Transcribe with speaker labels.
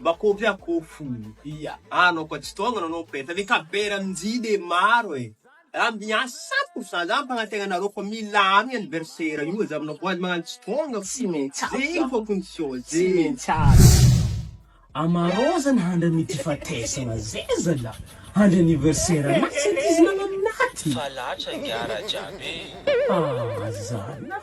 Speaker 1: Mba kôpy ah ko fobia. Ah anao koa tsy tonga nanao peintre ny kabera njy de maro e! Raha miasa cent pour cent za mpagnatena anareo fa milamy anniversaire io aza aminao koa aza magnano tsy tonga fô tsy maintsy aza zegny
Speaker 2: fô condition
Speaker 1: tsy zee maintsy aza.
Speaker 2: Amarôzana handry ami ty fatesagna zay zalah handry anniversaire anah tsy ankizy nagnano naty. Fa latra ingahy
Speaker 3: Rajab e! Ah
Speaker 2: zalah.